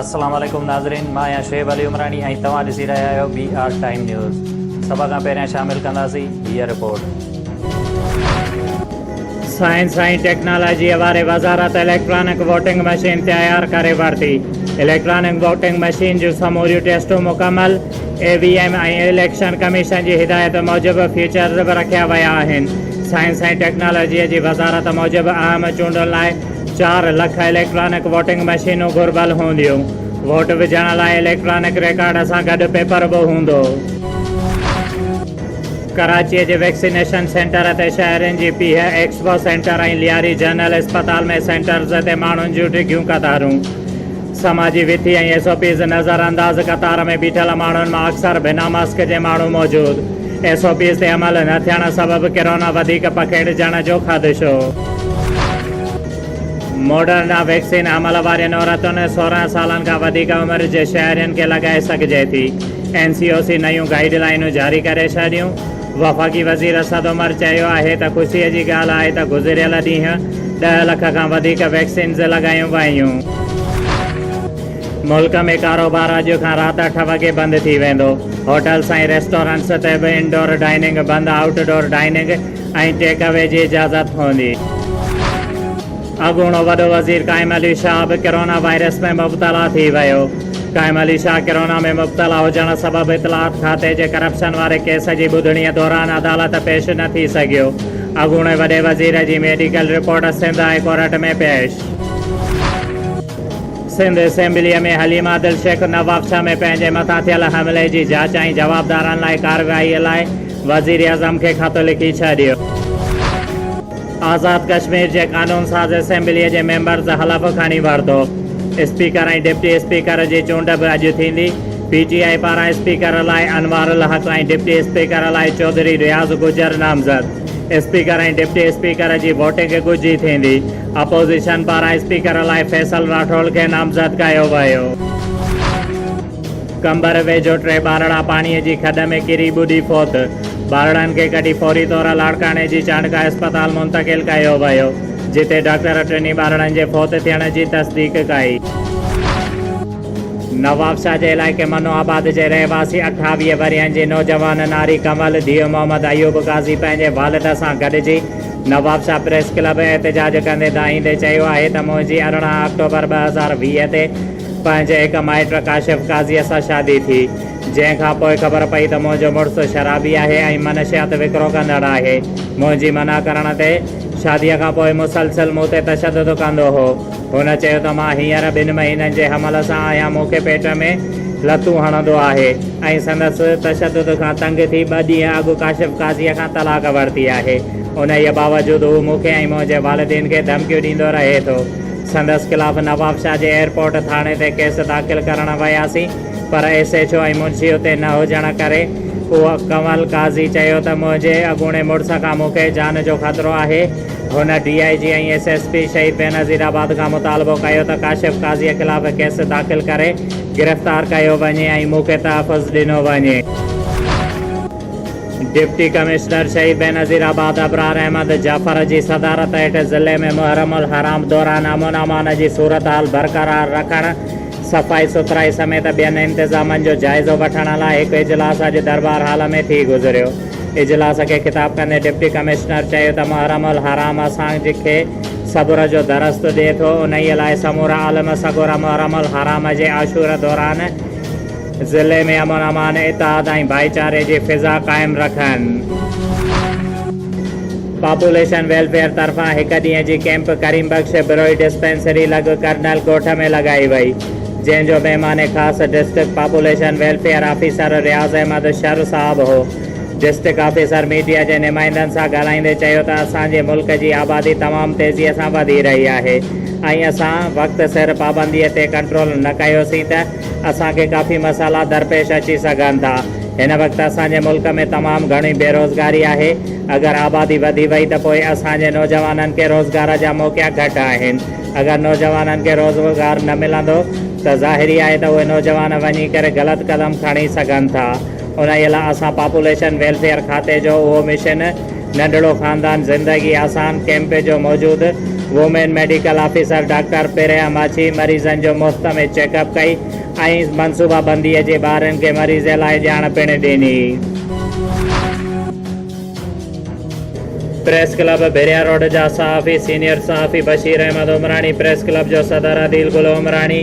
السلام عليڪم ناظرين مان آهيان شعيب علي عمراڻي ۽ توهان ڏسي رهيا آهيو بي آر ٽائيم نيوز سڀ کان پهريان شامل ڪنداسين هيء رپورٽ سائنس ۽ ٽيڪنالاجيء واري وزارت اليڪٽرانڪ ووٽنگ مشين تيار ڪري ورتي اليڪٽرانڪ ووٽنگ مشين جون سموريون ٽيسٽون مڪمل E V M ۽ election commission جي هدايت موجب فيچرز به رکيا ويا آهن. سائنس ۽ ٽيڪنالاجيء جي وزارت موجب اهم چونڊن لاء چار لک اليڪٽرانڪ ووٽنگ مشينون گهربل هونديون. ووٽ وجهڻ لاء اليڪٽرانڪ ريڪارڊ سان گڏ پيپر به هوندو. ڪراچيء جي ويڪسينيشن سينٽر تي شهرين جي پيهه، ايڪسپو سينٽر ۽ لياري جنرل اسپتال ۾ سينٽرز تي ماڻهن جون ڊگهيون قطارون. سماجي وٿي ۽ ايس او پيز نظر انداز قطار ۾ بيٺل ماڻهن مان اڪثر بنا ماسڪ جي ماڻهو موجود ايس او پيز تي عمل نه ٿيڻ سبب ڪرونا وڌيڪ پکيڙجڻ جو خدشو. موڊرنا ويڪسين عمل وارين عورتن سورهن سالن کان وڌيڪ عمر جي شهرين کي لڳائي سگهجي ٿي اين سي او سي نيون گائيڊ لائينون جاري ڪري ڇڏيون. وفاقي وزير اسد عمر چيو آهي ته خوشي جي ڳالهه آهي ته گذريل ڏينهن ڏهه لک کان وڌيڪ ويڪسينز لڳايون ويون. ملڪ ۾ ڪاروبار اڄ کان رات اٺ وڳي بند ٿي ويندو، هوٽلز ۽ ريسٽورنٽس تي به انڊور ڊائننگ بند، outdoor dining ۽ take away جي اجازت هوندي. اڳوڻو وڏو وزير قائم علي شاهه به ڪرونا وائرس ۾ مبتلا ٿي ويو. قائم علي شاهه ڪرونا ۾ مبتلا هجڻ سبب اطلاعات کاتي جي ڪرپشن واري ڪيس جي ٻڌڻي دوران عدالت پيش نه ٿي سگهيو. اڳوڻي وڏي وزير جي medical report Sindh high court ۾ پيش. سنڌ اسيمبليء ۾ حليم عادل شيخ نوابشاهه ۾ پنهنجي مٿان ٿيل حملي جي جاچ ۽ جوابدارن لاء ڪارروائيء لاء وزيراعظم کي خط لکي ڇڏيو. آزاد ڪشمير جي قانون ساز اسيمبليء جي ميمبرز حلف کڻي ورتو، اسپيڪر ۽ ڊپٽي اسپيڪر جي چونڊ به اڄ ٿيندي، پي ٽي آء پاران اسپيڪر لاء انوار الحق ۽ ڊپٽي اسپيڪر لاء چوڌري رياض گجر نامزد، اسپيڪر ۽ ڊپٽي اسپيڪر جي ووٽنگ ڳجهي ٿيندي، اپوزيشن پاران اسپيڪر لاء فيصل راٺوڙ کي نامزد ڪيو ويو. قمبر ويجهو ٽي ٻارڙا پاڻيء جي کڏ ۾ ڪري ٻڏي فوت، ٻارڙن کي ڪڍي فوري طور لاڙڪاڻي جي چانڊڪا اسپتال منتقل ڪيو ويو، جتي ڊاڪٽر ٽنهي ٻارڙن جي فوت ٿيڻ جي تصديق ڪئي. نوابشاهه جي علائقي منو آباد جي رهواسي اٺاويهه ورهين جي نوجوان ناري ڪنول ڌيء محمد ايوب قاضي پنهنجي والد سان گڏجي نوابشاهه پريس ڪلب احتجاج ڪندي دانهيندي چيو آهي ته منهنجي ارڙهن آڪٽوبر ٻه هزار ويهه تي پنهنجي هڪ مائٽ ڪاشف قاضيء سان شادي ٿي، جنهن کان پوء خبر پئي ته منهنجو مڙس شرابي آهي ۽ منشيات وڪرو ڪندڙ آهي. منهنجي منع ڪرڻ تي، شاديء کان پوء مسلسل مون تي تشدد ڪندو هو. هن چيو ته مان هينئر ٻن مهينن جي حمل سان آهيان، مون کي پيٽ ۾ لتون هڻندو آهي ۽ سندس تشدد کان تنگ ٿي ٻه ڏينهن اڳ ڪاشف قاضيء کان طلاق ورتي آهي. انهيء باوجود هو مون کي ۽ منهنجي والدين کي ڌمڪيون ڏيندو رهي ٿو. سندس خلاف نوابشاهه جي ايئرپورٽ ٿاڻي تي ڪيس داخل ڪرڻ وياسين پر ايس ايڇ او ۽ منشي اتي نه هجڻ ڪري اهو ڪنول قاضي چيو ته منهنجي اڳوڻي مڙس کان مون کي جان جو خطرو آهي هن D I G ۽ S S P Shaheed Benazir آباد کان مطالبو ڪيو ته ڪاشف قاضي خلاف ڪيس داخل ڪري گرفتار ڪيو وڃي ۽ مون کي تحفظ ڏنو وڃي. ڊپٽي ڪمشنر شهيد بينظير آباد ابرار احمد جعفر جي صدارت هيٺ ضلعي ۾ محرم الحرام دوران امن امان جي صورتحال برقرار رکڻ، صفائي سٿرائي سميت ٻين انتظامن جو جائزو وٺڻ لاء هڪ اجلاس اڄ درٻار هال ۾ ٿي گذريو. اجلاس کي خطاب ڪندي ڊپٽي ڪمشنر چيو ته محرم الحرام اسان کي صبر جو درس ڏئي ٿو، انهيء لاء سمورا عالم سڳورا محرم الحرام جي عاشور دوران، ضلعي ۾ امن امان، اتحاد ۽ ڀائيچاري جي فضا قائم رکن. پاپوليشن ويلفيئر طرفان هڪ ڏينهن جي ڪيمپ ڪريم بخش بروهي ڊسپينسري لڳ ڪرنل ڳوٺ ۾ لڳائي وئي، جنهن جو مهمان خاص district population welfare officer Riaz Ahmed Shar صاحب هو. ڊسٽرڪٽ آفيسر ميڊيا جي نمائندن سان ڳالهائيندي چيو ته اسان جي ملڪ جي آبادي تمام تيزي سان وڌي رهي آهي ۽ اسان وقت سر پابندي تي ڪنٽرول نه ڪيوسين ته اسان کي ڪافي مسئلا درپيش اچي سگهن ٿا. هن وقت اسان جي ملڪ ۾ تمام گهڻي بيروزگاري آهي. اگر آبادي وڌي وئي ته پوء اسان جي نوجوانن کي روزگار جا موقعا گهٽ آهن. اگر نوجوانن کي روزگار نه ملندو ته ظاهري آهي ته اهي نوجوان وڃي ڪري غلط قدم کڻي سگهن ٿا. انهيء لاء اسان پاپوليشن ويلفيئر کاتي جو اهو مشن ننڍڙو خاندان زندگي آسان ڪئمپ جو موجود women medical officer doctor Priya Machhi مريضن جو مفت ۾ چيڪ اپ ڪئي ۽ منصوبه بندي جي ٻارن کي مريضي لاء ڄاڻ پڻ ڏني. پريس ڪلب ڀيريا روڊ جا صحافي سينيئر صحافي بشير احمد عمراڻي، پريس ڪلب جو صدر عديل گل عمراڻي،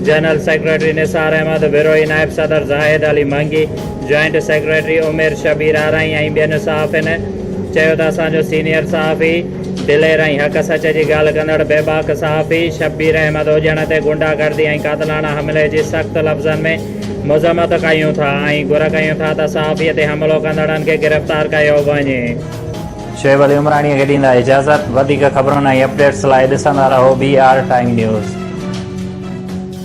جنرل سيڪريٽري نثار احمد بروهي، نائب صدر زاهد علي منگي، جوائنٽ سيڪريٽري عمير شبير آرائين ۽ ٻين صحافين چيو ته اسان جو سينيئر صحافي دلير ۽ حق سچ جي ڳالهه ڪندڙ بيباڪ صحافي شبير احمد اوڄڻ تي غنڊا گردي ۽ قاتلاڻا حملي جي سخت لفظن ۾ مذمت ڪيون ٿا ۽ گهر ڪيون ٿا ته صحافي تي حملو ڪندڙن کي گرفتار ڪيو وڃي. شعيب علي عمراڻيء کي ڏيندا اجازت. وڌيڪ خبرن ۽ اپڊيٽس لاء ڏسندا رهو بي آر ٽائيم نيوز.